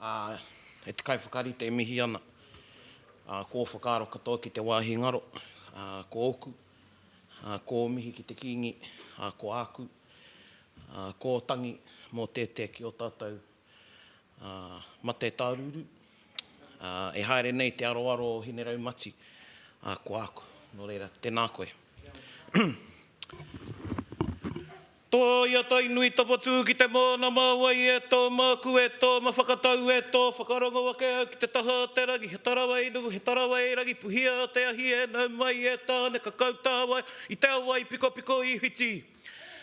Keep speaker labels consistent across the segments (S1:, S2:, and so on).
S1: Ā, e te kaiwhakarite e mihi ana. Ā, ko ō whakaaro katoa ki te wāhi ngaro, ā, ko ōku, ā, ko ō mihi ki te Kīngi, ā, ko āku, ā, ko ō tangi mō tētea ki ō tātou, ā, mate tārūrū, ā, e haere nei te aroaro o Hineraumati, ā, ko āku. Nō reira, tēnā koe. Toia Tainui Tapatū ki te moana mā wai e tō māku e tō ma whakatau e tō whakarongo ake au ki te taha o te rangi he tarawai nuku he tarawai rangi puhia o te ahi e nau mai e Tāne ka kau tāwai i te awa i pikopiko i whiti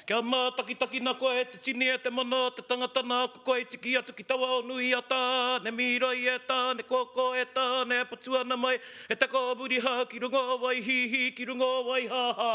S1: kia mātakitakina koe e te tini e te mana o te tangata nāku koe i tiki atu ki taua o nui a Tāne mīroi e Tāne kōkō e Tāne e patu ana mai he teko o muri hau ki runga o wai hīhī ki runga o wai hāhā.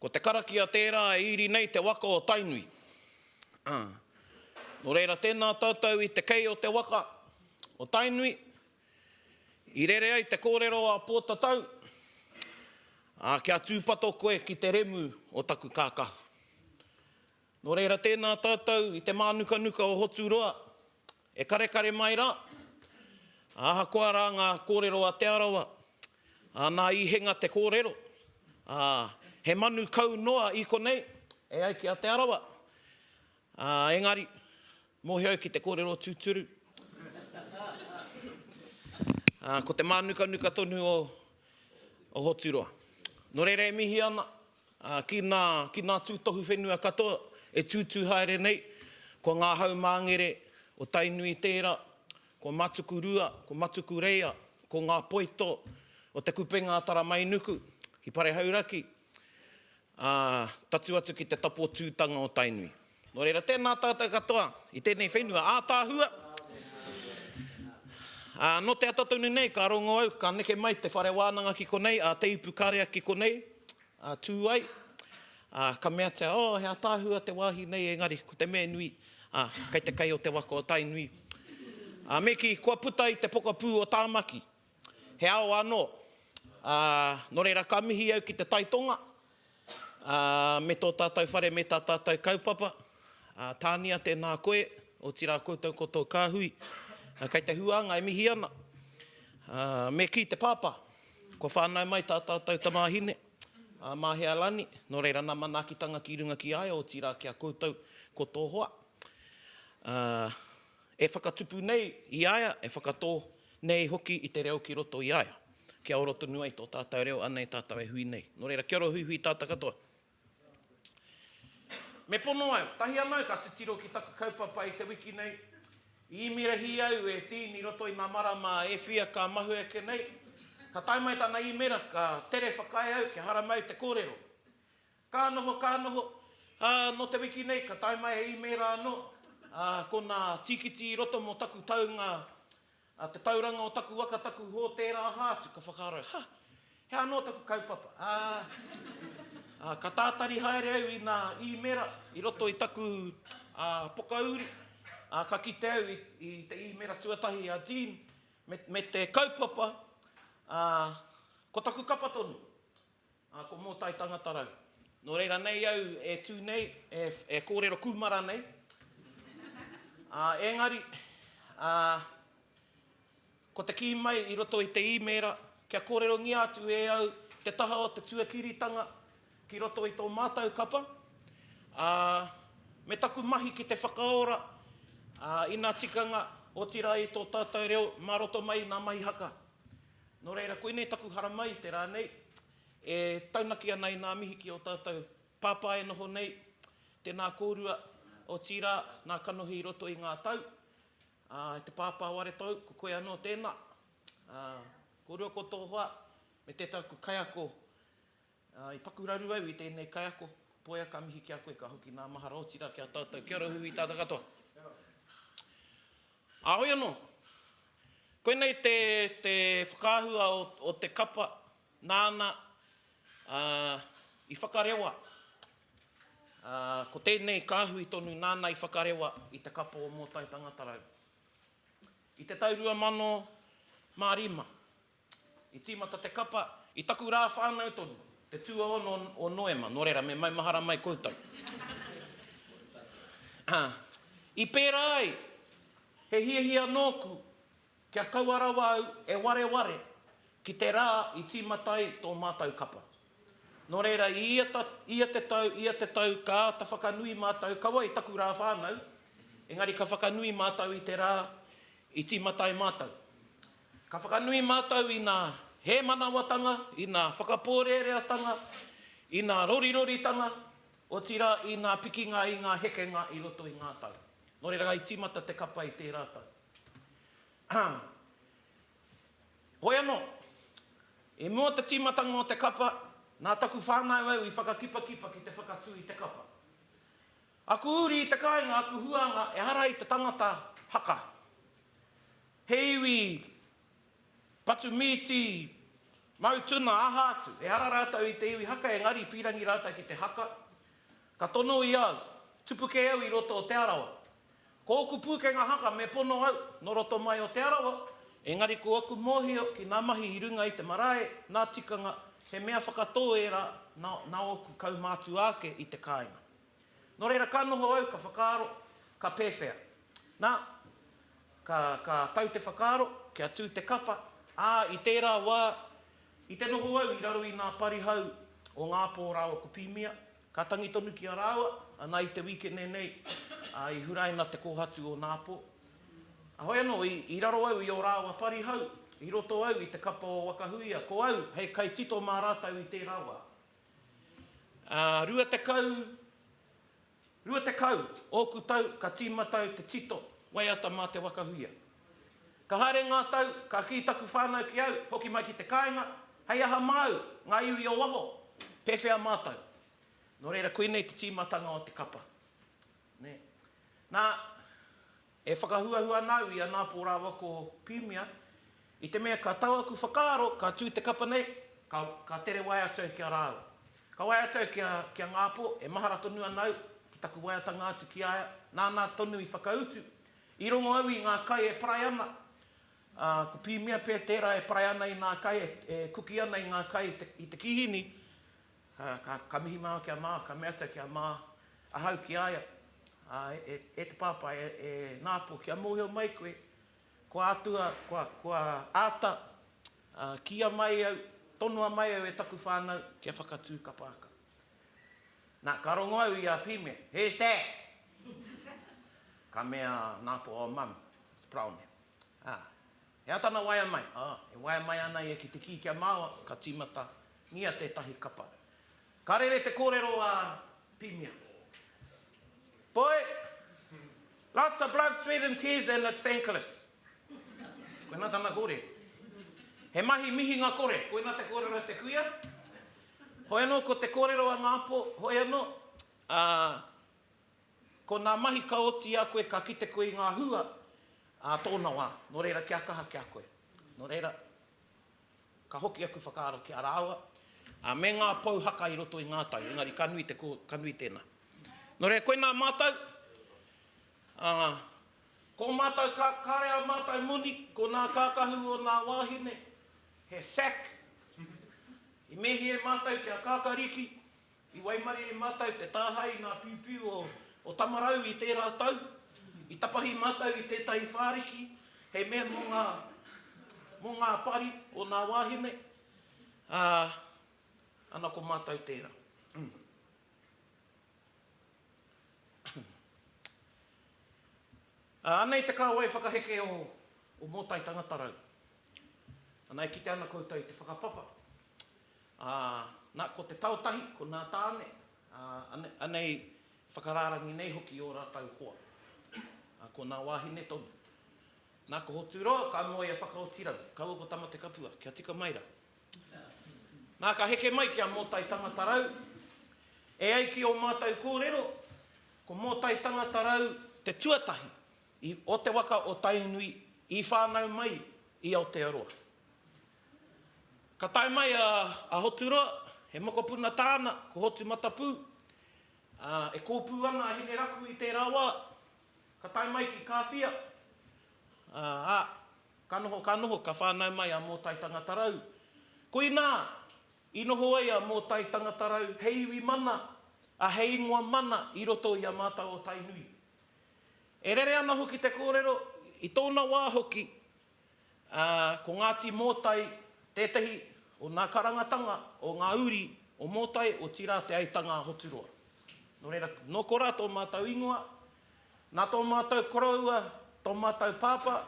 S1: Ko te karakia tērā e iri nei te waka o Tainui. Ā. Nō reira tēnā tātou i te kei o te waka o Tainui, i rere ai te kōrero a Pōtatau, ā, kia tūpato koe ki te remu o taku kākahu. Nō reira tēnā tātou i te mānukanuka o Hoturoa, e karekare mai rā, ā, ahakoa rā ngā kōrero a Te Arawa, ā, nā Īhenga te kōrero, ā, he manu kau noa i konei e ai ki a Te Arawa, ā, engari, mōhio au ki te kōrero tūturu, ā, ko te mānukanuka tonu o Hoturoa. Nō reira e mihi ana. Ā, ki nā, ki nā tūtohu whenua katoa e tūtū haere nei, ko ngā haumāngere o Tainui tēra, ko Matukurua, ko Matukureia, ko ngā poito o Te Kupenga a Taramainuku, ki Parehauraki, ā, tatū atu ki te tapotūtanga o Tainui. Nō reira, tēnā tātou katoa i tēnei whenua ātaahua. Ā, nō te ata tonu nei, ka rongo au, ka neke mai te whare wānanga ki konei, a Te Ipukarea ki konei, a tū ai, ā, ka meatia, oh, he ātaahua te wāhi nei, engari, ko te mea nui, ā, kei te kai o te waka o Tainui. Ā, me kī, kua puta i te pokapū o Tāmaki, he ao anō. Ā, nō reira, ka mihi au ki te taitonga, Ā, me tō tātou whare me tā tātou kaupapa, ā, tānia tēnā koe, otirā koutou ko tō kāhui, ā, kei te huānga e mihi ana. Ā, me kī te pāpā, kua whānau mai tā tātou tamāhine, ā, mā hea rani, nō reira nā manaakitanga ki runga ki a ia, otirā ki a koutou ko tō hoa. Ā, E whakatupu nei i a ia, e whakatō nei hoki i te reo ki roto i a ia, kia ora tonu ai tō tātou reo anei tātou e hui nei. Nō reira, kia ora huihui tātou katoa. Me pono au, tahi anō ka titiro ki taku kaupapa i te wiki nei. I īmerahi au e Dean i roto i ngā marama e whia ka mahue ake nei. Ka tae mai tana īmera, ka tere whakaae au kia haramai te kōrero. Ka noho, ka noho, ā, nō te wiki nei ka tae mai he īmēra anō, ā, ko nā tīkiti i roto mō taku taunga, ā, te tauranga o taku waka, taku hōtēra aha atu, ka whakaaro au, ha! He aha anō taku kaupapa, ā, ā, ka tātari haere au i nā īmēra i roto i taku, ā, pokauri, ā, ka kite au i te īmēra tuatahi a Jean me, me te kaupapa, ā, ko taku kapa tonu, Ā, ko Mōtai tangata rau. Nō reira nei au e tū nei, e, e kōrero kūmara nei. Ā, engari, ā, ko te kī mai i roto i te īmēra, kia kōrerongia atu e au te taha o te tuakiritanga ki roto i tō mātou kapa, ā, me taku mahi ki te whakaora, ā, ina tikanga, otirā i tō tātou reo mā roto mai i ngā mahi haka. Nō reira, koinei taku haramai i te rā nei, e taunaki ana i ngā mihi ki ō tātou pāpā e noho nei, tēnā kōrua, otirā, nā kanohi i roto i ngā tau, ā, e te pāpā o Aretou, ko koe anō tēnā, ā, kōrua ko tō hoa, me tētaku kaiako I paku raru au i tēnei kaiako. Poia ka mihi ki a koe, ka hoki nā mahara otira ki a tātou. Kia ora Huhui tātou katoa. Ā, hoi anō. Koinei te, te whakaahua o, o te kapa nāna ā, i whakarewa. Ā, ko tēnei kāhui tonu nāna i whakarewa i te kapa o Mōtai Tangata Rau. I te tau 2005, I tīmata te kapa i taku rā whānau tonu, te tuaono o Noema, nō reira, me maumahara mai koutou. Ā, i pērā ai, he hiahia nōku kia kaua rawa au e wareware ki te rā i tīmata ai tō mātou kapa. Nō reira, i ia, ia te tau, ia te tau ka āta whakanui mātou, kaua i taku rā whānau, engari ka whakanui mātou i te rā i tīmata ai mātou. Ka whakanui mātou i ngā hēmanawatanga, i ngā whakapōreareatanga, i ngā roriroritanga, otirā i ngā pikinga i ngā hekenga i roto i ngā tau. Nō reira ka i tīmata te kapa i tērā tau. Hoi anō, i mua o te tīmatanga o te kapa, nā taku whānau au i whakakipakipa ki te whakatū i te kapa. Aku uri i te kāinga, aku huānga ehara i te tangata haka. He iwi patu mīti, mau tuna, aha atu, ehara rātou i te iwi haka engari i pīrangi rātou ki te haka. Ka tono i au, tupu kē au i roto o Te Arawa. Ko oku pūkenga haka me pono au, nō roto mai o Te Arawa, engari ko aku mōhio ki ngā mahi i runga i te marae, ngā tikanga, he mea whakatō ērā nā ōku kaumātua ake i te kāinga. Nō reira, ka noho au, ka whakaaro, ka pēwhea? Nā, ka, ka tau te whakaaro, kia tū te kapa, ā, i tērā wā, i te noho au i raro i ngā parihau o Ngāpō rāua ko Pīmia, ka tangi tonu ki a rāua, ana i te wīkene nei, ā, i huraina te kōhatu o Nāpō. Ahoi anō, i, i raro au i ō rāua parihau, i roto au i te kapa o Wakahuia, ko au hei kaitito mā rātou i tērā wā. Ā, rua tekau, rua tekau ōku tau ka tīmata au te tito waiata mā te waka huia. Ka haere ngā tau, ka kī taku whānau ki au, hoki mai ki te kāinga, Hei aha māu, ngā iwi o waho, pēwhea mātou? Nō reira, koinei te tīmatanga o te kapa. Nē. Nā, E whakahuahua ana au i a Nāpō rāua ko Pīmia, i te mea ka tau aku whakaaro, ka tū te kapa nei, ka, ka tere wae atu au ki a rāua. Ka wae atu au ki a, ki a Ngāpō, e mahara tonu ana au ki taku waeatanga atu ki a ia, nāna tonu i whakautu. I rongo au i ngā kai e parae ana, ā, ko Pīmia pea tērā e parae ana i nā kai, e, e kuki ana i ngā kai i te, i te kīhini, Ā, ka, ka mihi māu ki a Mā, ka mea atu au ki a Mā, ahau ki a ia, Ā, e, e te Pāpā, e, e Nāpō, kia mōhio mai koe, kua atua, kua, kua āta, ā, kīia mai au, tonoa mai au e taku whānau kia whakatū kapa aka. Nā, ka rongo au i a Pīme, Who's that? Ka mea a Nāpō, Oh, Mum, it's Praone. Ā. He aha tana waea mai? Ā, e waea mai ana ia ki te kī kia māoa, ka tīmatangia tētahi kapa. Ka rere te kōrero a Pimia. Boy, lots of blood, sweat and tears and it's thankless. Koinā tana kōrero. He mahi mihinga kore, koinā te kōrero a te kuia. Hoi anō ko te kōrero a ngā pō, hoi anō, ā, Ko ngā mahi ka oti i a koe ka kite koe i ngā hua ā tōna wā. Nō reira kia kaha ki a koe. Nō reira, ka hoki aku whakaaro ki a rāua, ā, me ngā pou haka i roto i ngā tau, engari ka nui te ko, ka nui tēnā. Nō reira, koinā mātou, ā, ko mātou ka, kāre ā mātou moni, ko ngā kākahu o ngā wāhine, he sack, i mēhie mātou kia kākariki. I waimarie e mātou te tāhae i ngā piupiu o Tamarau i tērā tau. I tapahi mātou i tētahi whāriki hei mea mō ngā mō ngā pari o nā wāhine, ā, ana ko mātou tērā. Ā, anei te kāwai whakaheke o o Mōtai Tangata Rau. Anā, e kite ana koutou i te whakapapa Ā, nā, ko te tao tahi, ko nā Tāne, ā, anei whakarārangi nei hoki i ō rātou hoa, ā, ko nā wāhine tonu. Nā, ko Hoturoa ka noa i a Whakaotirau, kaua ko Tamatekapua, kia tika mai rā. Nā, ka heke mai ki a Mōtai Tangatarau, E ai ki ō mātou kōrero, ko Mōtai Tangatarau te tuatahi i o te waka o Tainui i whānau mai i Aotearoa. Ka tae mai a Aoturoa, he mokopuna tāna, ko Hotumatapū, ā, e kōpū ana a Hineraku i tērā wā. Ka tae mai ki Kāwhia, ā, ka noho, ka noho, ka whānau mai a Mōtai Tangatarau. Koinā i noho ai a Mōtai Tangatarau hei iwi mana, ā, hei ingoa mana i roto i a mātau o Tainui. E rere ana hoki te kōrero, i tōna wā hoki, ā, ko Ngāti Mōtai tētahi o nā karangatanga o ngā uri o Mōtai, otirā Te Aitanga-a-Hoturoa. Nō reira, nō korā tō mātou ingoa, nā tō mātou koroua, tō mātou pāpā,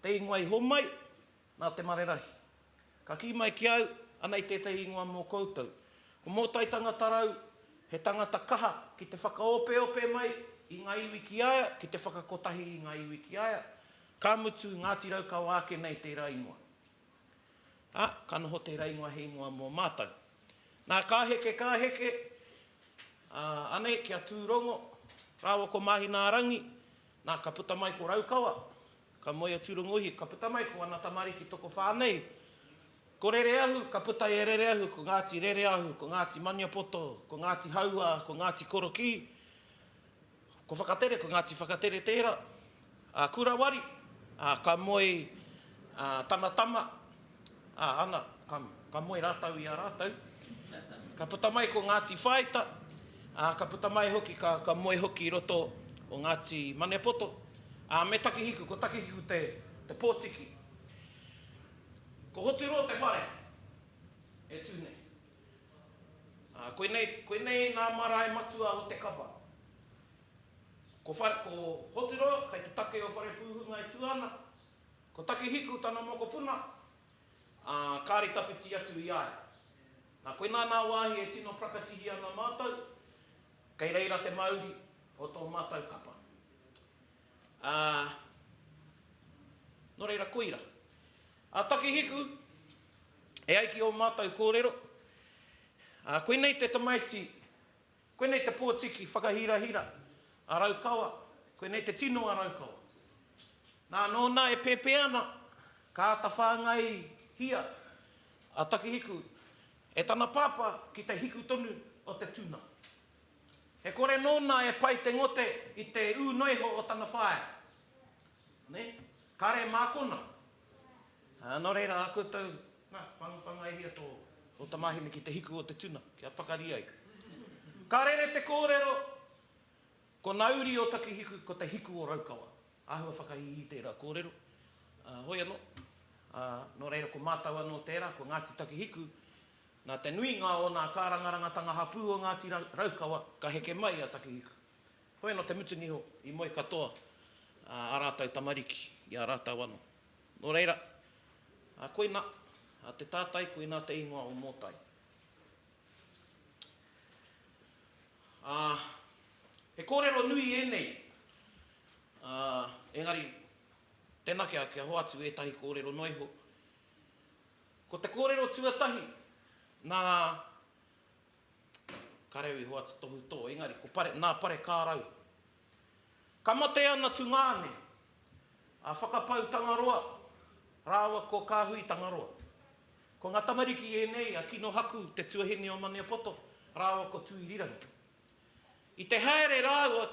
S1: te ingoa i homai, nā Te Marerahi. Ka kī mai ki au, anei tētahi ingoa mō koutou. Ko Mōtai Tangata Rau, he tangata kaha ki te whakaopeope mai i ngā iwi ki a ia, ki te whakakotahi i ngā iwi ki a ia, Ka mutu, Ngāti Raukawa ake nei tērā ingoa. Ā, ka noho tērā ingoa he ingoa mō mātou. Nā, ka heke, ka heke, ā, anei ki a Tūrongo rāua ko Māhinaarangi, nā, ka puta mai ko Raukawa, ka moe a Tūrongohia, ka puta mai ko ana tamariki tokowhā nei, ko Rereahu, ka puta i a Rereahu ko Ngāti Rereahu, ko Ngāti Maniapoto, ko Ngāti Hauā, ko Ngāti Korokī, Ko Whakatere, ko Ngāti Whakatere tērā, a Kurawari, a ka moe a tana tama, a ana, ka, ka moe rātou i a rātou. Ka puta mai ko Ngāti Whāita, a ka puta mai hoki, ka, ka moe hoki i roto o Ngāti Manepoto, a me Takihiku, ko Takihiku te, te pōtiki. Ko Hoturoa te whare e tū nei. Ā, koinei, koinei ngā marae matua o te kapa. Ko Whare, ko Hotiro kei te take o Wharepūhunga e tua ana, ko Takihiku tana mokopuna, ā, kāre tawhiti atu i a ia. Nā, koinā nā wāhi e tino prakatihi ana mātou, kei reira te mauri o tō mātou kapa. Ā, nō reira koira. A Takihiku, e ai ki ō mātou kōrero, a, koinei te tamaiti, koinei te pōtiki whakahirahira a Raukawa, koinei te tino a Raukawa. Nā, nōna e pēpē ana, ka āta whāngaihia a Takihiku e tana pāpā ki te hiku tonu o te tuna. E kore nōna e pai te ngote i te ū noiho o tana whaea. Nē? Kāre mākona. Ā, nō reira, a koutou, nā, whangawhangaihia tō tamāhine ki te hiku o te tuna, kia pakari ai. Ka rere te kōrero, Ko nā uri o Takihiku, ko te hiku o Raukawa. Āhua whakaiihi tērā kōrero. Ā, hoi anō. Ā, nō reira, ko mātau anō tērā, ko Ngāti Takihiku, nā te nuinga o nā kārangarangatanga hapū o Ngāti Raukawa, ka heke mai a Takihiku. Hoi anō te mutunga iho i moe katoa ā rātou tamariki i a rātou anō. Nō reira, koina te tātai, koina te ingoa o Mōtai. Ā, he kōrero nui ēnei, ā, engari tēnā kia, kia hoatu ētahi kōrero noa iho. Ko te kōrero tuatahi, nā. Ka reo i hoatu tohu tō, engari ko pare, nā pare kā rau. Ka mate ana tu ngāne, a Whakapau Tangaroa rāua ko Kāhui Tangaroa. Ko ngā tamariki ēnei a Kino Haku te tuahine o Maniapoto rāua ko Tuirirangi. I te haere rāua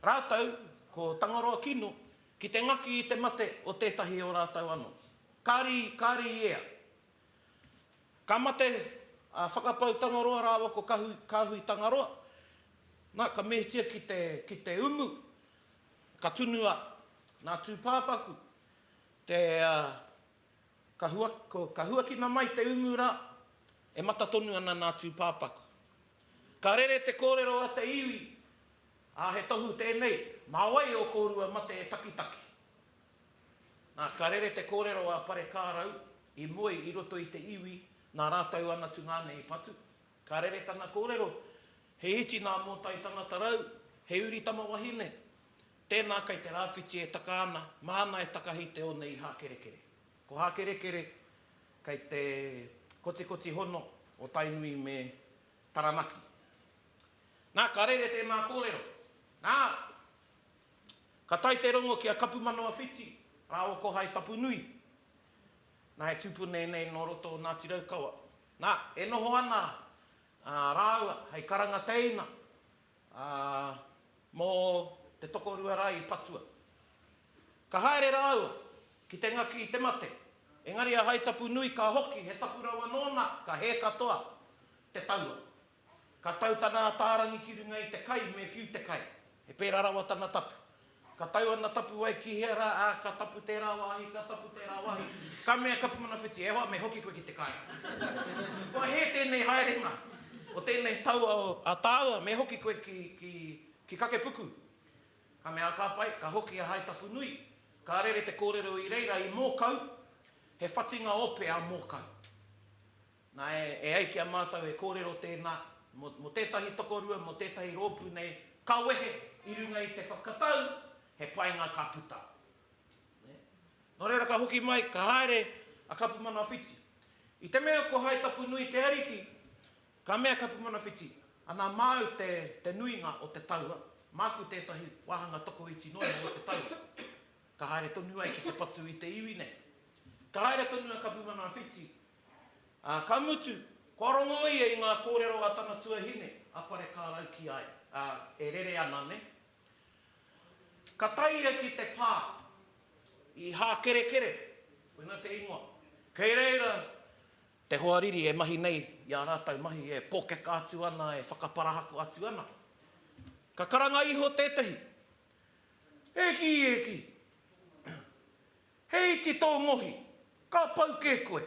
S1: rātou ko Tangaroa Kino ki te ngaki i te mate o tētahi o rātou anō. Kāri, kāri i ea. Ka mate a Whakapau Tangaroa rāua ko Kāhui Tangaroa, nā, ka mehetia ki te umu, ka tunu a Nā Tūpāpaku, te, ka huakina mai te umu rā, e mata tonu ana Nā Tūpāpaku. Ka rere te kōrero a te iwi, ā, he tohu tēnei, mā wai ō kōrua mate e takitaki? Nā, ka rere te kōrero a Parekārau i moe i roto i te iwi nā rātou ana tungāne i patu. Ka rere tana kōrero, He iti nā Mōtai tangata rau, he uri tama wahine. Tēnā kei te rāwhiti e taka ana, māna e takahi te one i Hākerekere. Ko Hākerekere, kei te kotikoti hono o Tainui me Taranaki. Nā, ka rere tēnā kōrero, Nā! Ka tae te rongo ki a Kapumanawhiti rā o Kohai Tapunui. Nā, he tupune nei nō roto o Ngāti Raukawa. Nā, e noho ana rāua hei karanga teina mō te tokorua rā i patua. Ka haere rāua ki te ngaki i te mate, engari a Haitapunui ka hoki he tapu rawa nōna, ka hē katoa te taua. Ka tau tana atārangi ki runga i te kai me whiu te kai. He pērā rawa tana tapu. Ka tau ana tapuwae ki hea rā, ā, ka tapu tērā wāhi, ka tapu tērā wāhi. Ka mea Kapumanawhiti, E hoa, me hoki koe ki te kai. Kua hē tēnei haerenga o tēnei taua o a tāua, me hoki koe ki, ki, ki Kakepuku. Ka mea a Kāpai, Ka hoki a Haitapunui. Ka rere te kōrero i reira i Mōkau, he whatinga ope a Mōkau. Nāe, e ai ki a mātou he kōrero tēnā, mō tētahi tokorua, mō tētahi rōpū nei, ka wehe i runga i te whakatau, he painga ka puta. Nō reira ka hoki mai, ka haere a Kapumanawhiti. I te mea ko Haitapunui te ariki, ka mea Kapumanawhiti, Ana māu te nuinga o te taua, māku tētahi wāhanga tokoiti noa iho o te taua. Ka haere tonu ai ki te patu i te iwi nei. Ka haere tonu a Kapumanawhiti Ā, ka mutu, kua rongo ia i ngā kōrero a tana tuahine, a Parekārau ki a ia. Ā, e rere ana nei. Ka tae ia ki te pā i Hākerekere, koinā te ingoa. Kei reira te hoariri e mahi nei i ā rātou mahi, e pōkeka atu ana, e whakaparahako atu ana. Ka karanga iho tētahi, E kī, e kī! He iti tō ngohi, ka pau kē koe.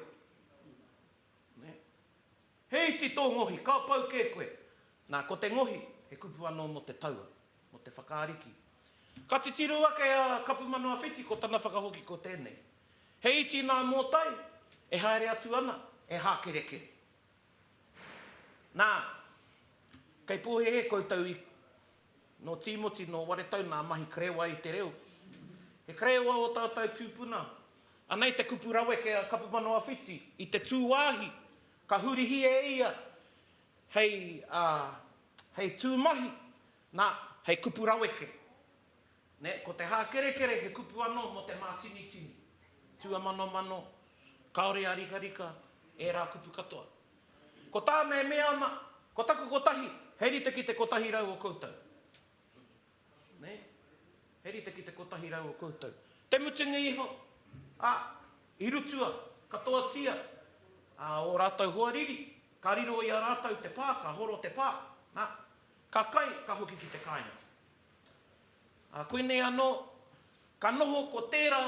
S1: Nē? He iti tō ngohi, ka pau kē koe. Nā, ko te ngohi, he kupu anō mō te taua, mō te whakaariki. Ka titiro ake a Kapumanawa-Whiti ko tana whakahoki ko tēnei, He iti nā Mōtai, e haere atu ana, e hākerekere. Nā, kei pōhēhē koutou i. Nō Tīmoti, nō Waretau nā mahi karewa i te reo. He karewa ō tātou tūpuna. Anei te kupu raweke a Kapumanawa-Whiti i te tūwāhi ka hurihia e ia hei, ā, hei tū mahi, nā, hei kupu raweke. Nē, ko te hākerekere he kupu anō mō te mātinitini, tūamanomano, kāore ā-rikarika, ērā kupu katoa. Ko tā me mea ana, ko taku kotahi, he rite ki te kotahi rau o koutou. Nē? He rite ki te kotahi rau o koutou. Te mutunga iho, ā, i rutua, katoatia, ā, ō rātou hoariri, ka riro i a rātou te pā, ka horo te pā, nā, ka kai, ka hoki ki te kāinga. Ā, koinei anō, ka noho ko tērā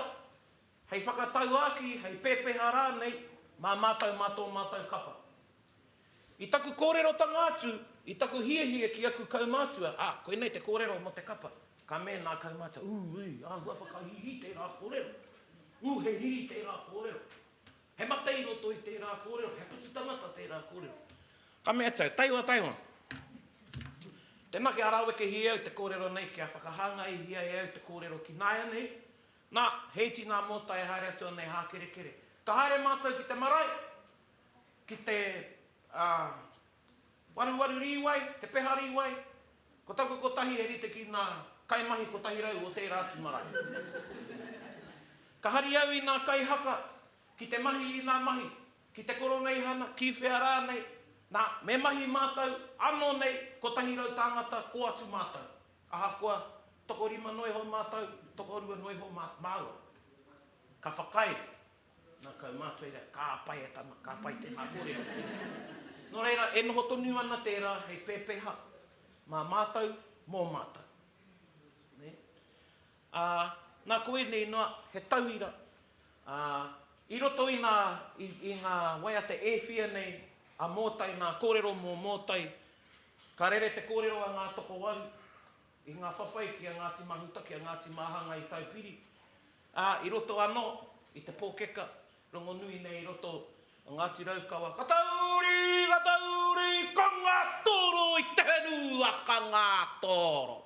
S1: Hei whakatauākī, hei pepeha rānei mā mātou mā tō mātou kapa. I taku kōrerotanga atu, i taku hiahia ki aku kaumātua, ā, koinei te kōrero mō te kapa. Ka mēnā kau mātou, ū, ui, āhua whakahīhī tērā kōrero. Ū, he riri tērā kōrero. He mate i roto i tērā kōrero, he putu tangata tērā kōrero. Ka mea tau, taihoa, taihoa. Tēnā kia rawekehia au te kōrero nei, kia whakahāngaihia e au te kōrero ki nāianei, Na, he iti ngā mōtai e haere atu ana e Hākerekere. Ka haere mātou ki te marae, ki te, ā, waruwaru rīwai, te peha rīwai. Ko taku kotahi e rite ki nā kaimahi kotahi rau o tērā atu marae. Ka hari au i nā kai haka, ki te mahi i nā mahi, ki te koroneihana, ki whea rānei, nā, me mahi mātou, anō nei, kotahi rau tāngata, kō atu mātou. Ahakoa tokorima noa iho mātou, tokorua noa iho mā, māua, ka whakaae, nā, kau mātua i reira, ka pai e tana, ka pai tēnā kōrero. Nō reira, e noho tonu ana tērā hei pēpeha mā mātou, mō mātou. Nē? Ā, nā koinei noa, he tauira, ā, i roto i ngā, i, i ngā waiata e whia nei a Mōtai, nā kōrero mō Mōtai, ka rere te kōrero a ngā tokowaru i ngā whawhai ki a Ngāti Mahuta, ki a Ngāti Māhanga i Taupiri, ā, i roto anō i te pōkeka Rongonui nei i roto o Ngāti Raukawa. Ka tauri, ka tauri, ka ngātōro i te heru a ka ngātōro.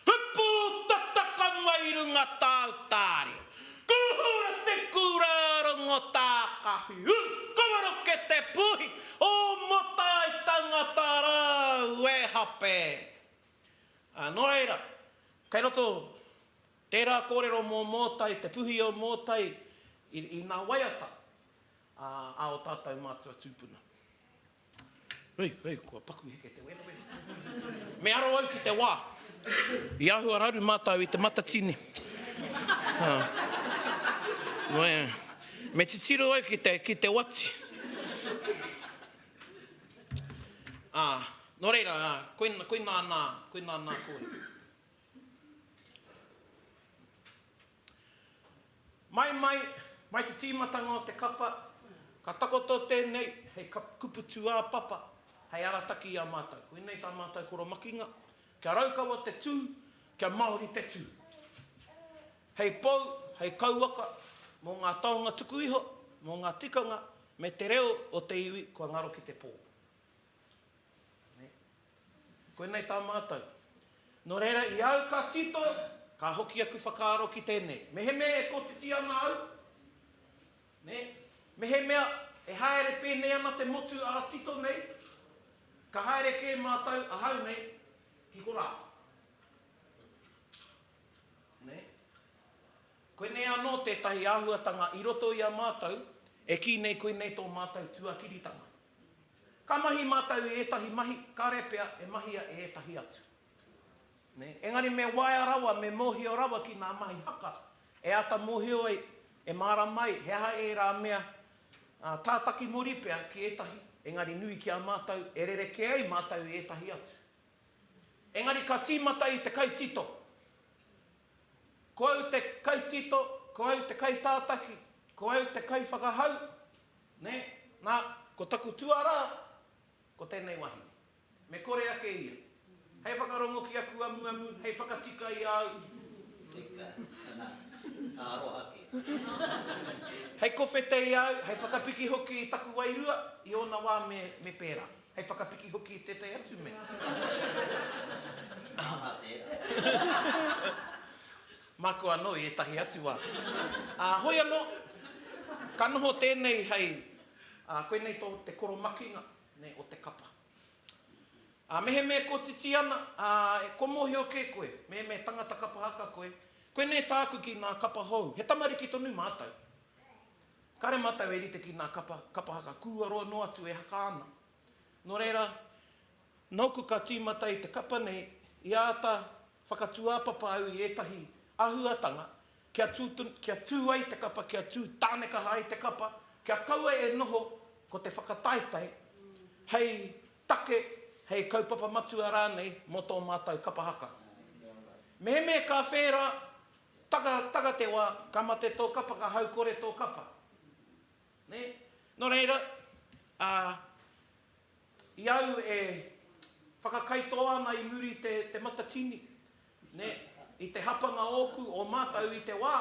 S1: He pū tata ka mai runga tāu tārio. Ka hura te kura rongo tā ka whiu, ka maroke te puhi, o Motai tangata rāu e hape. Nō reira, kei roto. Tērā kōrero mō Mōtai, te puhi o Mōtai i nā waiata a ō tātou mātua tūpuna. Hei, hei, kua paku heke te wēnawena. Me aro au ki te wā i āhua raru mātou i te matatini. Me titiro au ki te, ki te wati. Nō reira, koinā nā, koinā nā kōrero. Mai, mai, mai te tīmatanga o te kapa, ka takoto tēnei hei kupu tūāpapa, hei arataki i a mātou. Koinei tā mātou koromakinga, kia raukawa te tū, kia Māori te tū. Hei pou, hei kauwaka mō ngā taonga tuku iho, mō ngā tikanga me te reo o te iwi kua ngaro ki te pō. Koinei tā mātou. Nō reira, i au ka tito, ka hoki aku whakaaro ki tēnei. Mehemea e kotiti ana au, nē, mehemea e haere pēnei ana te motu ā-tito nei, ka haere kē mātou ahau nei ki korā. Nē. Koinei anō tētahi āhuatanga i roto i a mātou, e kī nei koinei tō mātou tuakiritanga. Ka mahi mātou i ētahi mahi, kāre pea e mahia e ētahi atu. Engari me waea rawa, me mōhio rawa ki ngā mahi haka e āta mōhio ai, e mārama ai he aha ērā mea tātaki muri pea ki ētahi, engari nui ki a mātou, e rerekē ai mātou i ētahi atu. Engari ka tīmata i te kaitito. Ko au te kaitito, ko au te kaitātaki, ko au te kaiwhakahau, nē, nā, ko taku tuarā, ko tēnei wahine. Me kore ake ia. Hei whakarongo ki aku amuamu, hei whakatika i a au. Tika,
S2: anā, ka aroha kē.
S1: Hei kowhete i a au, hei whakapiki hoki i taku wairua, i ōna wā me pērā. Hei whakapiki hoki i tētahi atu mea. Aha
S2: tērā?
S1: Māku anō i ētahi atu wā. Ā, hoi anō, ka noho tēnei hei, ā, koinei tō te koromakinga, nē, o te kapa. Ā, mehemea e kotiti ana, ā, kua mōhio kē koe, mehemea tangata kapa haka koe, koinei tāku ki ngā kapa hou, he tamariki tonu mātou. Kare matau e rite ki nga kapa, kapa haka kua roa no atu e haka ana. No reira, noku ka timata i te kapa nei, i ata whakatuapapa au i etahi ahuatanga kia tu, kia tu ai te kapa, kia tu tanekaha ai te kapa, kia kaua e noho ko te whakataetae hei take, hei kaupapa matua ranei mo to matou kapa haka. Mehemea ka whera Taka, taka te wa, ka mate to kapa, ka hau kore to kapa. Ne? No reira, a, i au e whakakaitoa ana i muri i te, te matatini, ne, i te hapanga oku, o matou i te wa,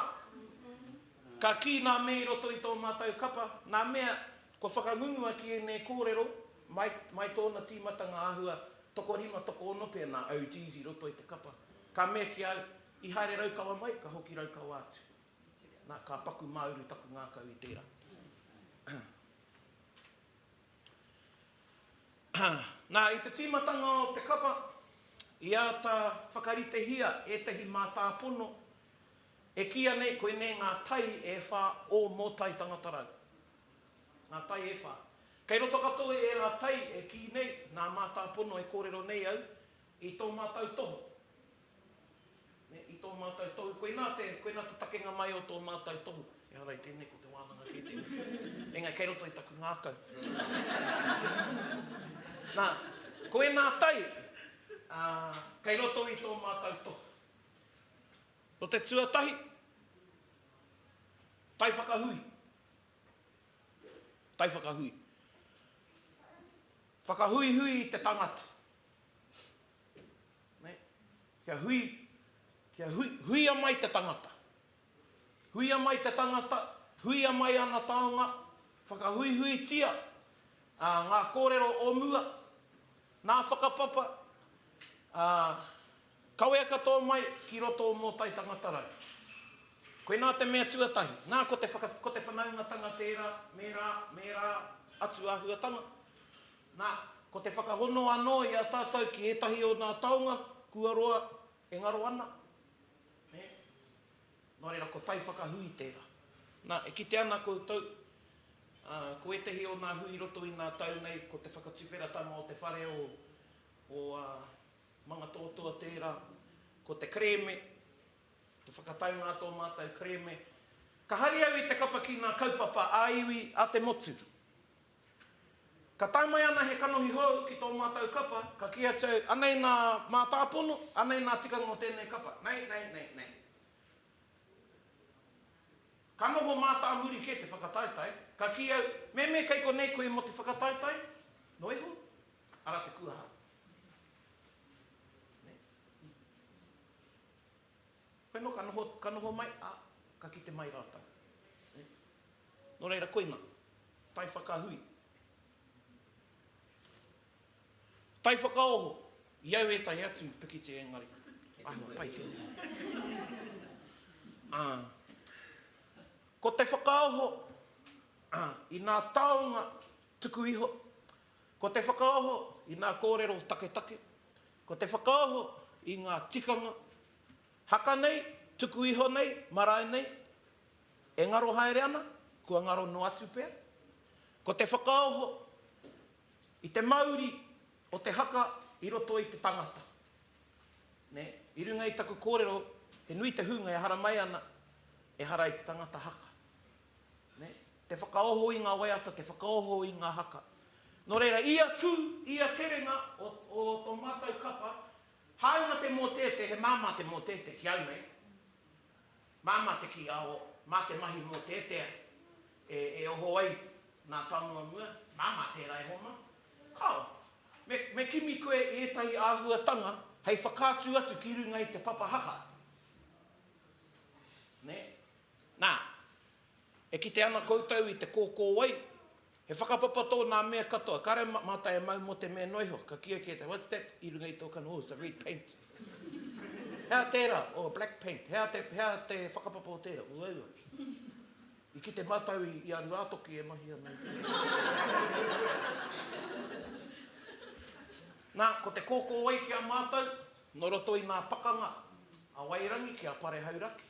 S1: ka ki na me i roto i to matou kapa, na mea, kua whakangungua ki enei korero, mai, mai tona timatanga ahua, tokorima, tokoono pea na OGs i roto i te kapa. Ka mea ki au, I haere Raukawa mai, ka hoki Raukawa atu. Na, ka paku māuru taku ngākau i tērā. Na, i te tīmatanga o te kapa, i āta whakaritehia ētahi mātāpono e kīia nei koinei ngā tai e whā o Mōtai Tangata Rau. Ngā tai e whā. Kei roto katoa i ērā tai e kī nei nā mātāpono e kōrero nei au i tō mātou tohu. I tō mātou tohu, koinā te, koinā te takenga mai o tō mātou tohu. Ehara i tēnei ko te wānanga kē tēnei. Engari kei roto i taku ngākau. Nā, ko ēnā tai, ā, kei roto i tō mātou tohu. Nō te tuatahi, tai whakahui. Tai whakahui. Whakahuihui i te tangata. Kia hui, kia hui, huia mai te tangata. Huia mai te tangata, huia mai ana taonga, whakahuihuitia ā, ngā kōrero o mua, nā whakapapa, ā, kawea katoa mai ki roto o Mōtai Tangata Rau. Koinā te mea tuatahi, nā ko te whaka, ko te whanaungatanga tērā, mērā, mērā atu āhuatanga, Nā, ko te whakahono anō i a tātou ki ētahi o nā taonga kua roa e ngaro ana, nē? Nō reira, ko tai whakahui tērā. Nā, e kite ana koutou, ā, ko ētahi o nā hui i roto i nā tau nei, ko te whakatuwheratanga o te whare o, o, ā, Mangatoatoa tērā, ko te kerēme, te whakataunga a tō mātou kerēme. Ka hari au i te kapa ki nā kaupapa ā-iwi a te motu. Ka tae mai ana he kanohi hou ki tō mātou kapa, ka kī atu au, anei nā mātāpono, anei nā tikanga o tēnei kapa. Nei, nei, nei, nei. Ka noho mātāmuri kē te whakataetae, ka kī au, Meme, kei konei koe mō te whakataetae? Noa iho, ara te kuaha. Nei. Koe no ka noho, ka noho mai, a, ka kite mai ratou. No reira koina, tai whakahui, tai whakaoho, i au etahi atu i pikiti engari, ahua pai tenei. A, ko te whakaoho, a, ina taonga tuku iho, ko te whakaoho ina korero taketake, Ko te whakaoho i ngā tikanga haka nei, tuku iho nei, marae nei, e ngaro haere ana, kua ngaro noa atu pea. Ko te whakaoho i te mauri o te haka i roto i te tangata. I runga i taku kōrero, he nui te hunga e haramai ana, ehara i te tangata haka. Te whakaoho i ngā waiata, te whakaoho i ngā haka. Nō reira, ia tū, ia terenga o, o tō mātou kapa, hāunga te mōteete, he māmā te mōteete ki au nei. Māmā te kī, ao, mā te mahi mōteetea e, e oho ai nā Taumuamua, māmā tērā e homa. Kāo, me, me kimi koe i ētahi āhuatanga hei whakaatu atu ki runga i te papa haka. Nē? Nā. E kite ana koutou i te kōkōwai, he whakapapa tō nā mea katoa. Kāre mātai e mau mō te mea noa iho. Ka kīa ki ētahi, What's that i runga i tō kanohi? Oh, it's a red paint. Hea tērā? Oh, a black paint. Hea te, hea te whakapapa o tērā? Uaua. I kite mātou i, i a Ruātoki e mahi ana i te. Nā, ko te kōkōwai ki a mātou, nō roto i ngā pakanga a Wairangi ki a Parehauraki.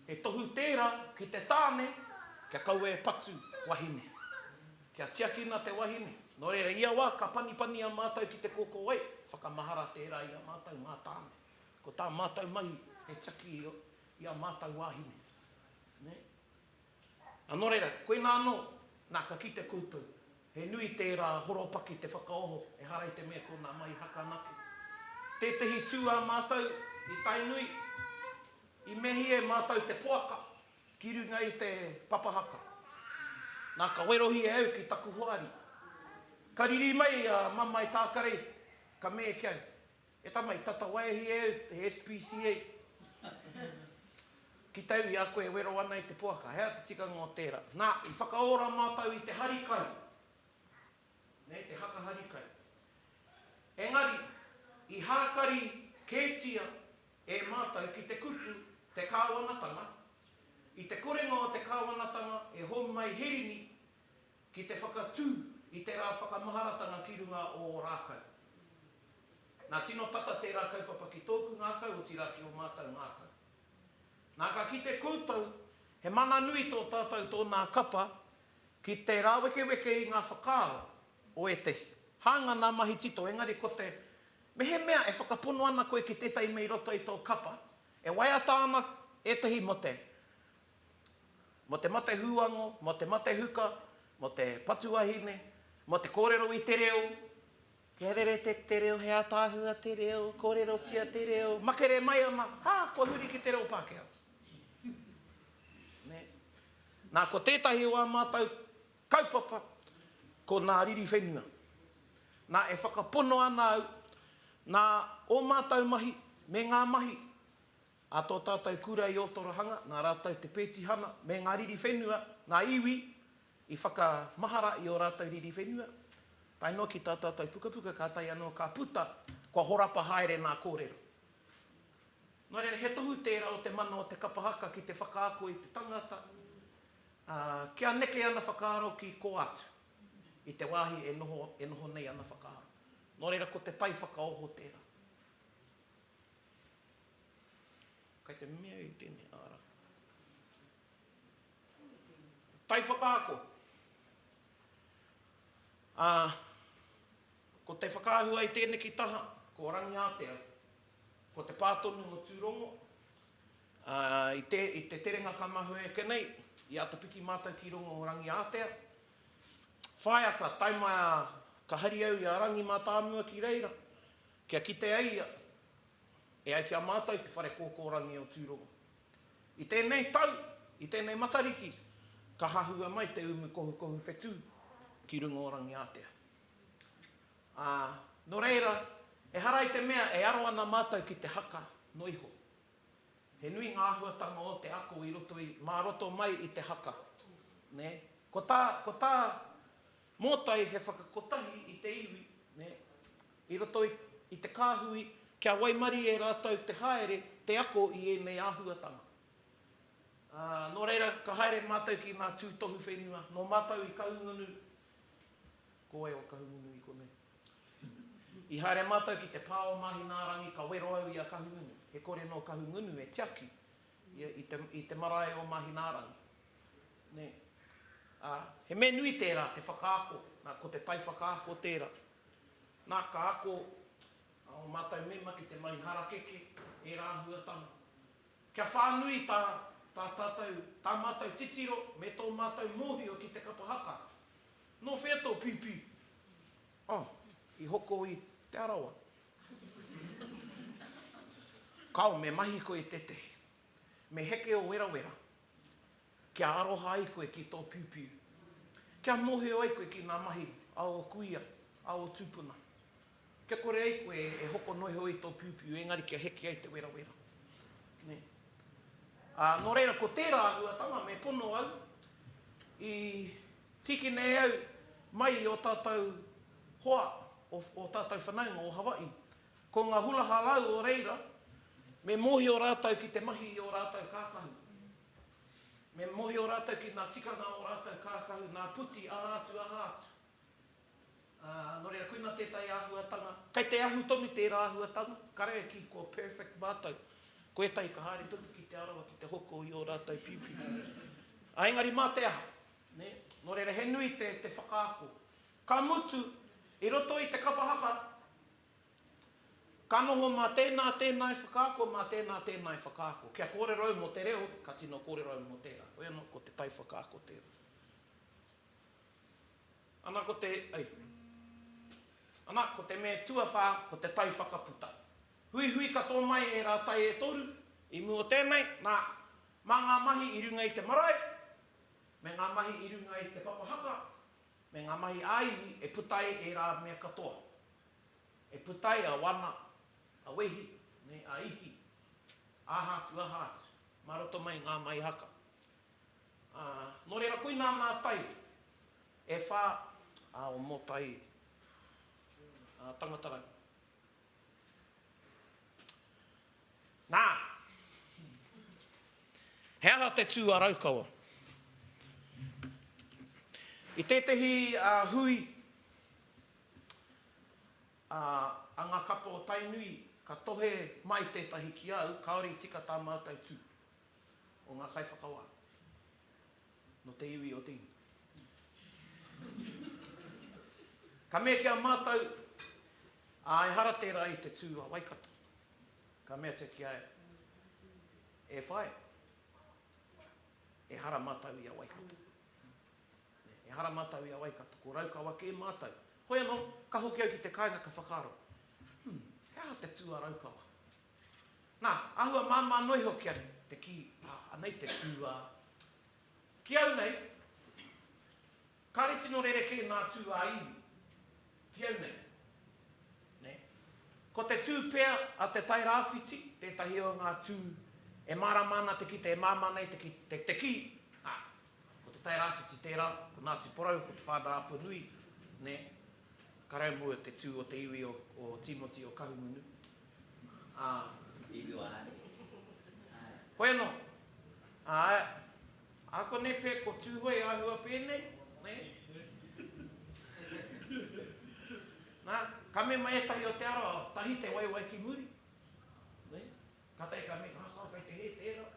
S1: He tohu tērā ki te tāne kia kaua e patu wahine. Kia tiakina te wahine. Nō reira, ia wā ka panipani a mātou ki te kōkōwai, whakamahara tērā i a mātou ngā tāne. Ko tā mātou mahi he tiaki i a mātou wāhine. Ā, nō reira, koinā anō, nā, ka kite koutou, he nui tērā horopaki te whakaoho, ehara i te mea ko nā Mai Haka anake. Tētehi tū ā mātou i Tainui, i mehi e mātou te poaka ki runga i te papa haka. Nā, ka werohia au ki taku hoari. Ka riri mai a Mamae Tākarei, ka mē ki au, E tama, i tatawai e hia au he SPCA ki tau i a koe e wero ana i te poaka. He aha te tikanga o tērā? Nā, i whakaora mātou i te hari kai, nei te haka hari kai. Engari, i hākari kētia e mātou ki te kupu te kāwanatanga, i te korenga o te kāwanatanga e hou mai Hirini Ki te whakatū i te rā whakamaharatanga ki runga o ō rākau. Nā, tino tata tērā kaupapa ki tōku ngākau, otirā ki ō mātau ngākau. Nā, ka kite koutou, he mana nui tō tātau tōnā kapa ki te rāwekeweke i ngā whakaaro o ētehi. Hāunga nā mahi tito, engari ko te mehemea e whakapono ana koe ki tētahi mea i roto i tō kapa, e waiata ana ētehi mō te Mō te mate huango, mō te mate huka, mō te patu wahine, mō te kōrero i te reo, kia rere te te reo, he ataahua te reo, kōrerotia te reo, makere mai ana, ha, kua huri ki te reo Pākehā. Nē. Nā, ko tētahi o ā mātou kaupapa, ko nā riri whenua. Nā, e whakapono ana au, nā ō mātou mahi, me ngā mahi, A tō tātou kura i Ōtorohanga, nā rātou te pētihana me ngā riri whenua, ngā iwi i whakamahara i ō rātou riri whenua, tae noa ki tā tātou pukapuka kātahi anō ka puta kua horapa haere nā kōrero. Nō reira, he tohu tērā o te mana o te kapa haka ki te whakaako i te tangata, ā, kia neke ana whakaaro ki kō atu, i te wāhi e noho, e noho nei ana whakaaro. Nō reira, ko te tai whakaoho tērā. Kai te mea i tēnei ara. Tai whakaako. Ā, ko te whakaahua i tēneki taha, ko Rangiātea, ko te pā tonu o Tūrongo, ā, i te, i te terenga ka mahue ake nei, i āta piki mātou ki rongo o Rangiātea. Whāiaka, tae mai a, ka hari au i a Rangi Mātāmua ki reira, Kia kite ai ia, e ai ki a mātou te Whare Kōkōrangi o Tūrongo. I tēnei tau, i tēnei Matariki, ka hahua mai te umu kohukohu whetū ki runga o Rangiātea. Ā, nō reira, ehara i te mea e aro ana mātou ki te haka noa iho. He nui ngā āhuatanga o te ako i roto i, mā roto mai i te haka, nē? Ko tā, ko tā, Mōtai he whakakotahi i te iwi, nē, i roto i te kāhui kia waimarie rātou te haere, te ako i ēnei āhuatanga. Ā, nō reira, ka haere mātou ki ngā tūtohu whenua, nō mātou i Kahungunu, ko wai o Kahungunu i konei? I haere mātou ki te pā o Māhinaarangi, ka wero au i a Kahungunu, he kore nō Kahungunu e tiaki Ia i te, i te marae o Mahinaarangi. Nē. Ā, he mea nui tērā te whakaako, nā, ko te tai whakaako tērā. Nā, ka ako ō mātou mema ki te mahi harakeke, ērā āhuatanga. Kia whānui tā, tā tātou, tā mātou titiro me tō mātou mōhio ki te kapa haka. Nō whea tō pīpī? Oh, i hoko i Te Arawa. Kao, me mahi koe i tētehi. Me heke ō werawera, kia aroha ai koe ki tō piupiu. Kia mōhio ai koe ki ngā mahi a ō kuia, a ō tūpuna. Kia kore ai koe e hoko noa iho i tō piupiu, engari kia heke ai te werawera. Nē. Ā, nō reira, ko tērā āhuatanga me pono au i Tiki nei au mai i o tatou hoa, o tatou whanaunga o Hawaii. Ko nga hula halau o reira, me mohio ratou ki te mahi i o ratou kakahu. Me mohio ratou ki nga tikanga o ratou kakahu, nga puti, aha atu, aha atu. Ā, nō reira, koinā tētahi āhuatanga. Kei te ahu tonu tērā āhuatanga, karaeki kua perfect mātou. Ko ētahi ka haere tonu ki Te Arawa ki te hoko i ō rātou pipi. Ā, engari mā te aha, nē? Nō reira, he nui te, te whakaako. Ka mutu, i roto i te kapa haka, ka noho mā tēnā, tēnā e whakaako, mā tēnā, tēnā e whakaako. Kia kōrero au mō te reo, ka tino kōrero au mō tērā. Hoi anō, ko te taiwhakaako tērā. Ana ko te, ai. Ana ko te me tuawhā ko te tai whakaputa. Huihui katoa mai ērā tai e toru, i mua o tēnei, nā, mā ngā mahi i runga i te marae, me ngā mahi i runga i te papa haka, me ngā mahi ā-iwi e puta ai ērā mea katoa. E puta ai a wana, a wehi, me a ihi, aha atu aha atu, mā roto mai i ngā mahi haka. Ā, nō reira, koinā ngā tai e whā ā, o Mōtai ā, Tangatarau. Nā! He aha te tū a Raukawa? I tētehi ā, hui ā, a ngā kapa o Tainui, ka tohe mai tētahi ki au, kāore i tika tā mātou tū. o ngā kaiwhakawā nō te iwi o te Inga. Ka mea ki a mātou, ā, ehara tērā i te tū a Waikato. Ka meatia ki a ia, e whaea, ehara mātou i a Waikato. Ehara mātou i a Waikato, ko Raukawa kē mātou. Hoi anō, ka hoki au ki te kāinga ka whakaaro, hmm, he aha te tū a Raukawa? Nā, āhua māmā noa iho kia rite te kī, ā, anei te tū, ā. Ki au nei, kāre tino rerekē ngā tū ā-iwi, ki au nei. Nē. Ko te tū pea a Te Tai Rāwhiti tētahi o ngā tū e mārama ana te kite, e māmā nei te kite, te kī, ā, ko Te Tai Rāwhiti tērā, ko Ngāti Porou, ko Te Whānau a Punui, nē, ka raumō te tū o te iwi o Tīmoti o Kahungunu. Ā, i
S2: riro a Ari.
S1: Koe anō. Ā, ā konei pea ko Tūhoe āhua pēnei, nē? Nā, ka mema ētahi o te ara, tahi te waewae ki muri, nē? Kātahi ka mea, ngā kawa kei te hē tērā.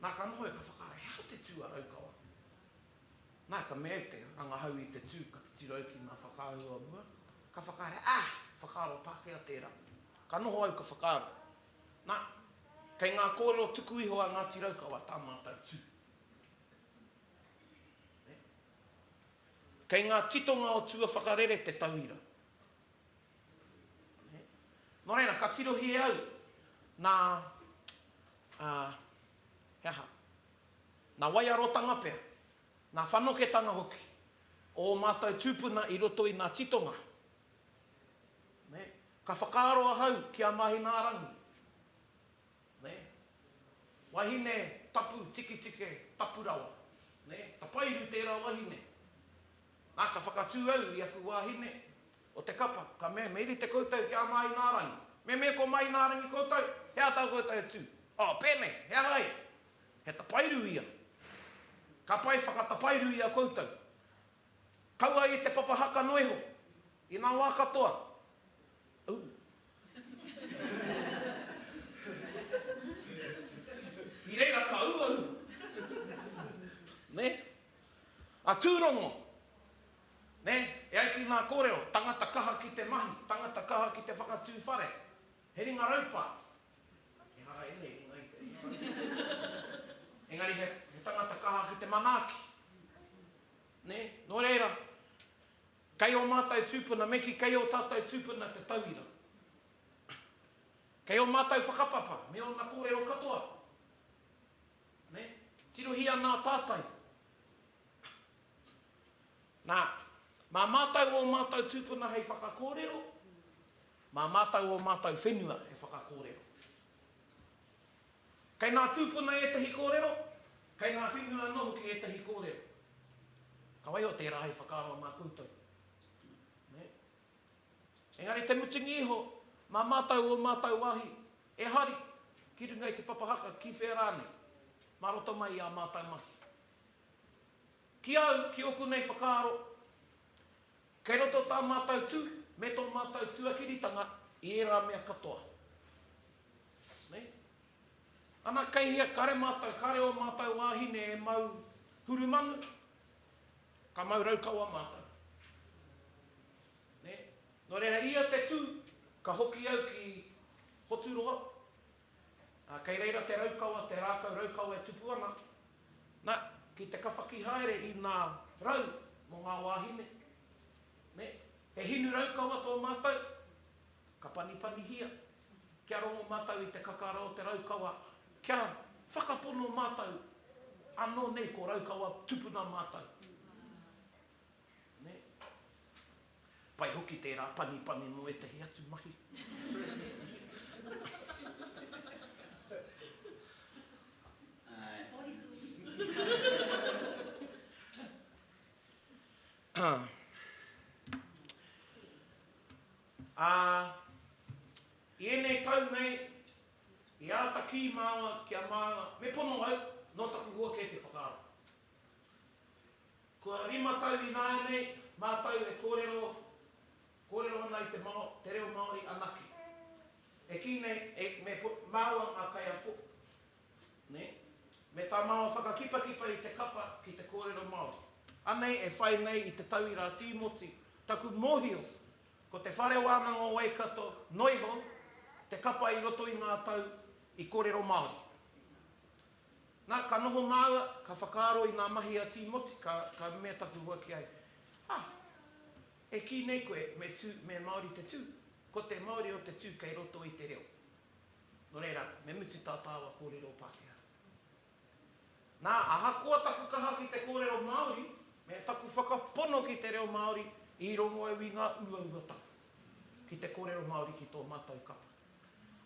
S1: Nā, ka noho ia, ka whakaae, he aha te tū a Raukawa? Nā, ka mea te rangahau i te tū, ka titiro au ki ngā whakaahua o mua, ka whakahaere, Ah! Whakaaro Pākehā tērā. Ka noho au ka whakaaro. Nā, kei ngā kōrero tuku iho a Ngāti Raukawa tā mātou tū. Kei ngā titonga o tua whakarere te tauira. Nō reira, ka tirohia au, nā, he aha, Ngā waiarotanga pea, ngā whanoketanga hoki o ō mātou tūpuna i roto i ngā titonga. Me, ka whakaaro ahau ki a Mahinārangi. Me, wahine tapu tikitike, tapu rawa. Me, tapairu tērā wahine. Nā, ka whakatū au i aku wāhine o te kapa, ka mea, me rite koutou ki a Mahinārangi. Me, me ko Mahinārangi koutou? He aha tā koutou e tū? Oh, pēnei, he aha ai? He tapairu ia. Ka pai whakatapairu ia koutou. Kaua i te papa haka noa iho, i nga wa katoa. Ooh. I reira ka uaua. Ne? A Turongo. Ne? E ai ki nga korero, tangata kaha ki te mahi, tangata kaha ki te whakatu whare. He ringa raupa. Ehara ēnei ringa i te ringa rākau. Engari he tangata kaha ki te manaaki. Nē? Nō reira, kei ō mātou tūpuna, me kī, kei ō tātou tūpuna te tauira. Kei ō mātou whakapapa me ōna kōrero katoa. Nē? Tirohia ana a Tātai. Nā, mā mātou ō mātou tūpuna hei whakakōrero, Mā mātou ō mātou whenua e whakakōrero. Kei ngā tūpuna ētahi kōrero, kei ngā whenua anō hoki ētahi kōrero. Ka waiho tērā hei whakaaro mā koutou. Nē? Engari te mutunga iho, mā mātou ō mātou wāhi e hari, ki runga i te papa haka, ki whea rānei, mā roto mai i ā mātou mahi. Ki au, ki ōku nei whakaaro, Kei roto tā mātou tū me tō mātou tuakiritanga i ērā mea katoa. Nei. Ana kei hea kare mātou, kare ō mātou wāhine e mau hurumanu, ka mau raukawa mātou. Nei. Nō reira ia te tū ka hoki au ki Hoturoa, Ā, kei reira te raukawa, te rākau raukawa e tupu ana, nā, ki te kawhaki haere i ngā rau mō ngā wāhine, nē, he hinu raukawa tō mātou, ka panipanihia, kia rongo mātou i te kakara o te raukawa, kia whakapono mātou, ānō nei ko raukawa tupuna mātou. Nē. Pai hoki tērā panipani mō ētahi atu mahi. Ā, i ēnei tau nei, i āta kī māua ki a māua, me pono au, nō taku hua kē te whakaaro. Kua rima tau ināianei mātou e kōrero, kōrero ana i te Mao, te reo Māori anake. E kī nei, e, me po, māua ngā kaiako, nē, me tā māua whakakipakipa i te kapa ki te kōrero Māori. Anei e whai nei i te tauira Tīmoti, taku mōhio, ko Te Whare Wānanga o Waikato noiho te kapa i roto i ngā tau i kōrero Māori. Na, ka noho māua, ka whakaaro i ngā mahi a Tīmoti, ka, ka mea taku huaki ai, Ah, e kī nei koe me tū, me Māori te tū? Ko te Māori o te tū kei roto i te reo. Nō reira, me mutu tā tāua kōrero Pākehā. Na, ahakoa taku kaha ki te kōrero Māori, me taku whakapono ki te reo Māori, i rongo au i ngā uauatanga ki te kōrero Māori ki tō mātou kapa.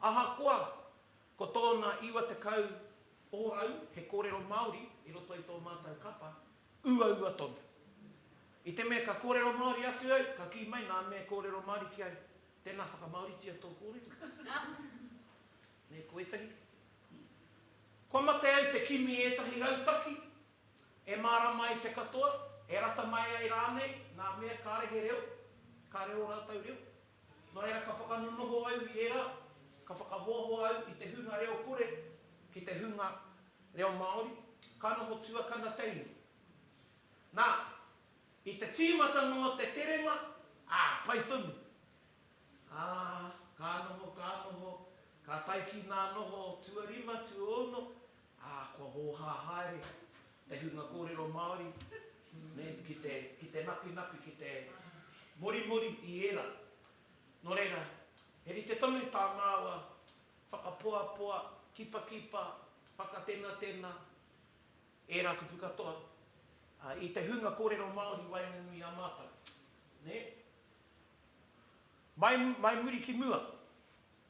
S1: Ahakoa, Ko tōna 90 ōrau he kōrero Māori i roto i tō mātou kapa, uaua tonu. I te mea ka kōrero Māori atu au, ka kī mai ngā mea kōrero Māori ki au, Tēnā whakamāoritia tō kōrero. Nē, ko ētahi. Kua mate au te kimi ētahi rautaki e mārama ai te katoa, e rata mai ai rānei ngā mea kāre he reo, kāre ō rātou reo. Nō reira ka whakanonoho au i ērā, ka whakahoahoa au i te hunga reo kore ki te hunga reo Māori, ka noho tuakana teina. Nā, i te tīmata noa te terenga, ā, pai tonu. Ā, ka noho, ka noho, ka tae ki ngā noho tuarima, tuaono, Ā, kua hōhā haere te hunga kōrero Māori ki te, ki te nakunaku, ki te morimori i ērā. Nō reira, he rite tonu tā māua whakapoapoa, kipakipa, whakatenatena, ērā kupu katoa, ā, i te hunga kōrero Māori i waenganui i a mātou. Nē? Mai, mai muri ki mua.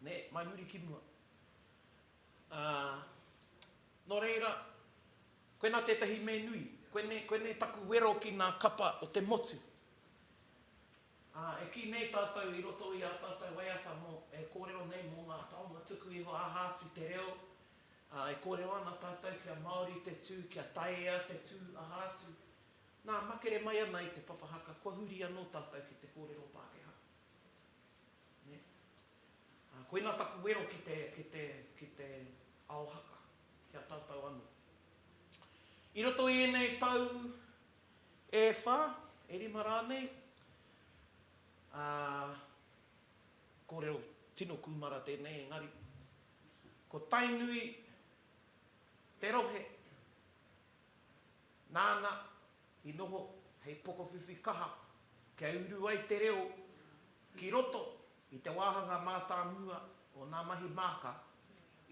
S1: Nē, mai muri ki mua. Ā, nō reira, koinā tētahi me nui, koinei, koinei taku wero ki ngā kapa o te motu. Ā, e kī nei tātou i roto i ā tātou waiata mō, e kōrero nei mō ngā taonga tuku iho aha atu te reo, ā, e kōrero ana tātou kia Māori te tū, kia Taea te tū, aha atu. Nā, makere mai ana i te papa haka, kua huri anō tātou ki te kōrero Pākehā. Nē? Koina taku wero ki te, ki te, ki te ao haka, ki a tātou anō. I roto i ēnei tau e whā, e rima rānei, ā, kōrero tino kūmara tēnei engari, ko Tainui te rohe Nāna i noho hei pokowhiwhi kaha kia uru ai te reo ki roto i te wāhanga mātāmua o ngā mahi māka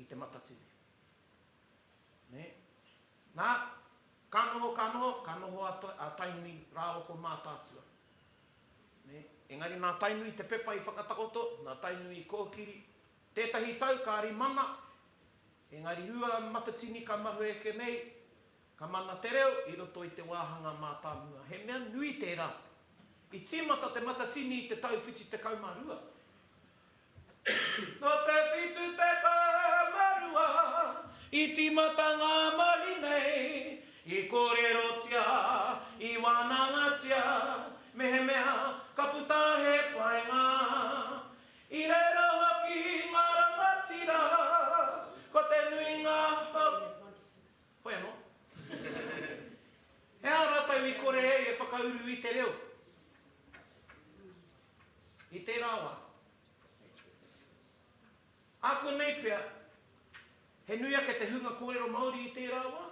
S1: i Te Matatini. Nē? Nā, ka noho, ka noho, ka noho a Tainui rāua ko Mātaatua. Nē? Engari nā Tainui te pepa i whakatakoto, nā Tainui i kōkiri. Tētahi tau ka rimana Engari rua matatini ka mahue eke nei, ka mana te reo i roto i te wāhanga mātāmua. He mea nui tērā. I tīmata te matatini i te tau whitu tekau mā rua. Nō te whitu tekau mā rua i tīmata ngā mahi nei, i kōrerotia, i wānangatia, mehemea ka puta he painga. I reira hoki ngā rangatira, ko te nuinga hou. Hoi anō. He aha rātou i kore ai e whakauru i te reo? I tērā wā. Ākonei pea, he nui ake te hunga kōrero Māori i tērā wā.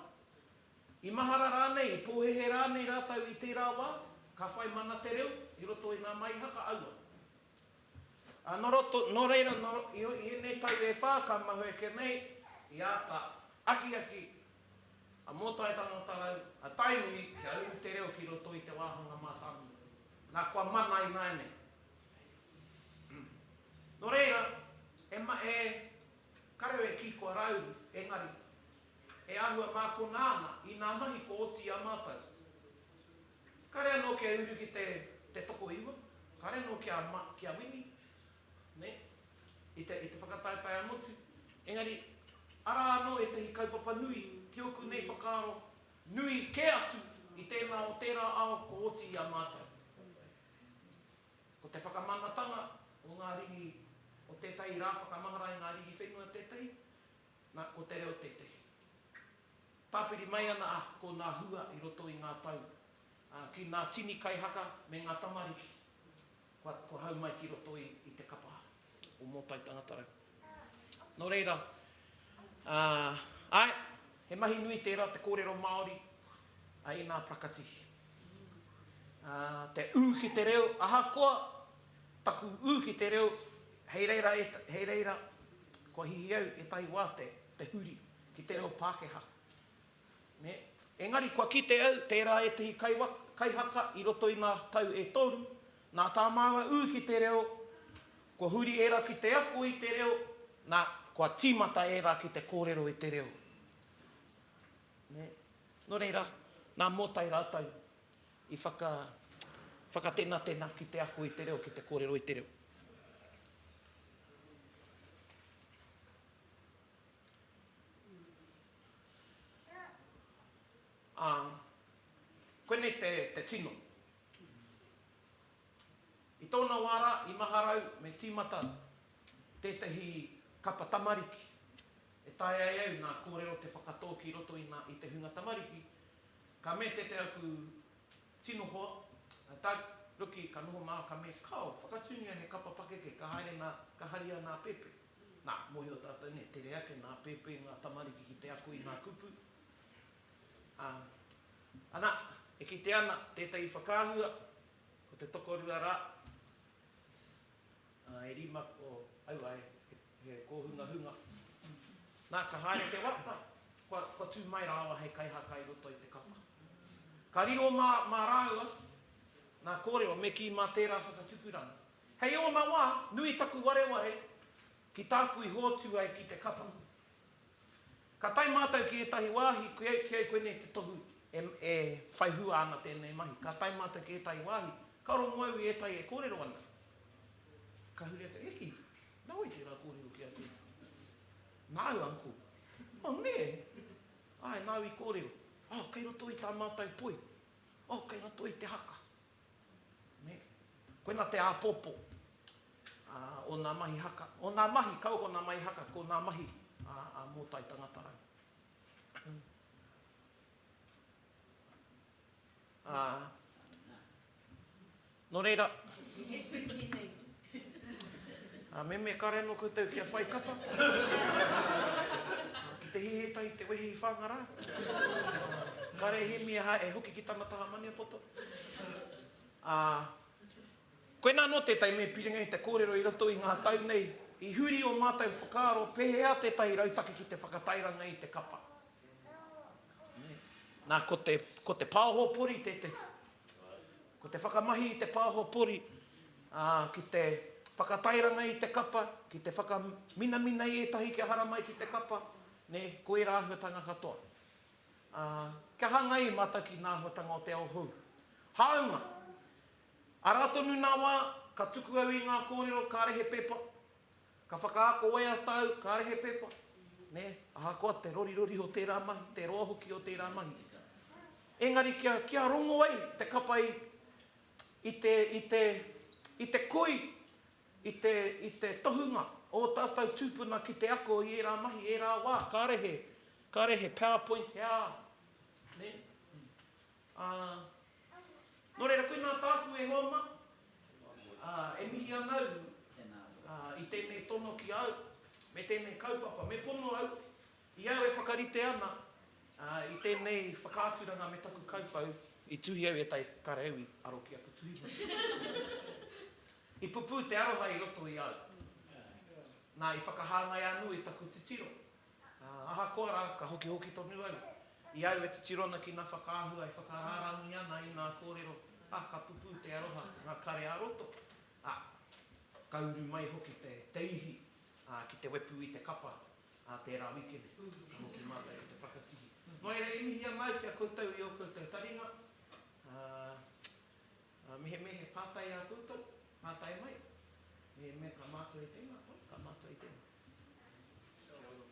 S1: I mahara rānei, i pōhēhē rānei rātou i tērā wā, ka whai mana te reo i roto i ngā maihaka aua. Ā, nō roto, nō reira, nō, i, i ēnei tau e whā ka mahue ake nei, i āta akiaki a Mōtaetanga o Tarau, a Tainui, kia uru te reo ki roto i te wāhanga mātāmua. Nā, kua mana ināianei. Umm. Nō reira, e, e, ka reo e kī kua rāuru, engari, e āhua mākona ana i nā mahi kua oti i a mātou. Kare anō kia uru ki te te tokoiwa, kare anō kia ma, kia wini, nē, i te, i te whakataetae-a-motu. Engari, arā anō ētahi kaupapa nui ki ōku nei whakaaro, nui kē atu i tēnā o tērā ao kua oti i a mātou. Ko te whakamanatanga o ngā riri, o tētahi rā whakamahara i ngā riri whenua tētahi, nā, ko te reo tētahi. Tāpiri mai ana a ko nā hua i roto i ngā tau, ā, ki nā tini kaihaka me ngā tamariki, kua, kua hau mai ki roto i, i te kapa o Mōtai Tangatarau. Nō reira, ā, āe, he mahi nui tērā te kōrero Māori a ēnā prakati. Ā, te ū ki te reo, ahakoa taku ū ki te reo, hei reira, hei reira, kua hihiau ētahi wā te, te huri. ki te reo Pākehā. Nē? Engari kua kite au tērā ētehi kaihaka i roto i ngā tau e toru, nā tā māua ū ki te reo, kua huri ērā ki te ako i te reo, nā, kua tīmata ērā ki te kōrero i te reo. Nē? Nō reira, nā Mōtai rātou i whaka, whakatenatena ki te ako i te reo, ki te kōrero i te reo. Ā, koinei te, te tino. I tōna wā rā, i Maharau, me tīmata tētahi kapa tamariki e taea e au nā kōrero te whakatō ki roto i ngā, i te hunga tamariki, ka me te te aku tino hoa, a Doug, Ruki, ka noho mā, ka me, Kao, whakatūngia he kapa pakeke, ka haere nā, ka haria nā Pepe. Nā, mōhio tātou nei, tere ake nā pēpē ngā tamariki ki te ako i ngā kupu, ā, ana, e kite ana tētahi whakaahua, ko te tokorua rā, ā, e rima ko aua he kōhungahunga. Nā, ka haere te wā, nā, kua, kua tū mai rāua hei kaihaka i roto i te kapa. Ka riro mā, mā rāua ngā kōrero, me kī mā tērā whakatupuranga. Hei ōna wā, nui taku wareware ki tāku i hoatu ai ki te kapa. Ka tae mātou ki ētahi wāhi, ki ai koinei te tohu e whai hua ana tēnei mahi. Ka tae mātou ki ētahi wāhi, ka rongo au i ētahi e kōrero ana. Ka huri atu, Heki, nā wai tērā kōrero ki a tēnā? Nā au, Uncle. Oh, nē? Āe, nāu i kōrero. Oh, kei roto i tā mātou poi. Oh, kei roto i te haka. Nē. Koina te āpōpō o ngā mahi haka, o ngā mahi kau ko ngā mahi haka, ko ngā mahi a Mōtai Tangatarau. Nō reira. Ā, me me kare anō koutou kia whai kapa. Ā, ki te hihi tahi te wehi i Whāngarā. Ā, kare Hemi e hae, e hoki ki tana taha Maniapoto. Ā, koinā anō tētahi me piringa i te kōrero i roto i ngā tau nei, i huri ō mātou whakaaro pēhea tētahi rautaki ki te whakatairanga i te kapa. Nē. Nā, ko te, ko te pāho pori tētahi. Ko te whakamahi i te pāho pori, Ā, ki te whakatairanga i te kapa, ki te whakaminamina i ētahi kia haramai ki te kapa, nē, ko ērā āhuatanga katoa. Ā, kia hāngai i mātou ki ngā āhuatanga o te ao hou. Hāunga, arā tonu ngā wā, ka tuku au i ngā kōrero kāre he pepa, ka whakaako waiata au kāre he pepa, nē, ahakoa te rorirori o tērā mahi, te roa hoki o tērā mahi. Engari kia, kia rongo ai te kapa i. i te, i te, i te koi, i te, i te tohunga o ō tātou tūpuna ki te ako i ērā mahi, ērā wā. Kāre he, kāre he powerpoint he ā, nē? Ā, nō reira, koinā tāku e hoa mā, ā, e mihi ana au, ā, i tēnei tono ki a au, me tēnei kaupapa. Me pono au, I au e whakarite ana i tēnei whakaaturanga me taku kauwhau, i tuhi au ētahi kareo i aro ki aku tuhituhi. I pupū te aroha i roto i au, nā, i whakahāngai anō i taku titiro. Ahakoa rā, ka hokihoki tonu au, i au e titiro ana ki ngā whakaahua e whakarārangi ana i ngā kōrero, ā, ka pupū te aroha ki ngā kare ā-roto, ā, ka uru mai hoki te ihi ki te wepu i te kapa Ā tērā wikene, ka hoki mātou ki te whakatihi. Nō reira e mihi ana au ki a koutou i ō koutou taringa, ā, ā, mehemea he pātai ā koutou, pātai mai, mehemea ka mātua i tēnā, oi, ka mātua i tēnā. Kia ora koutou.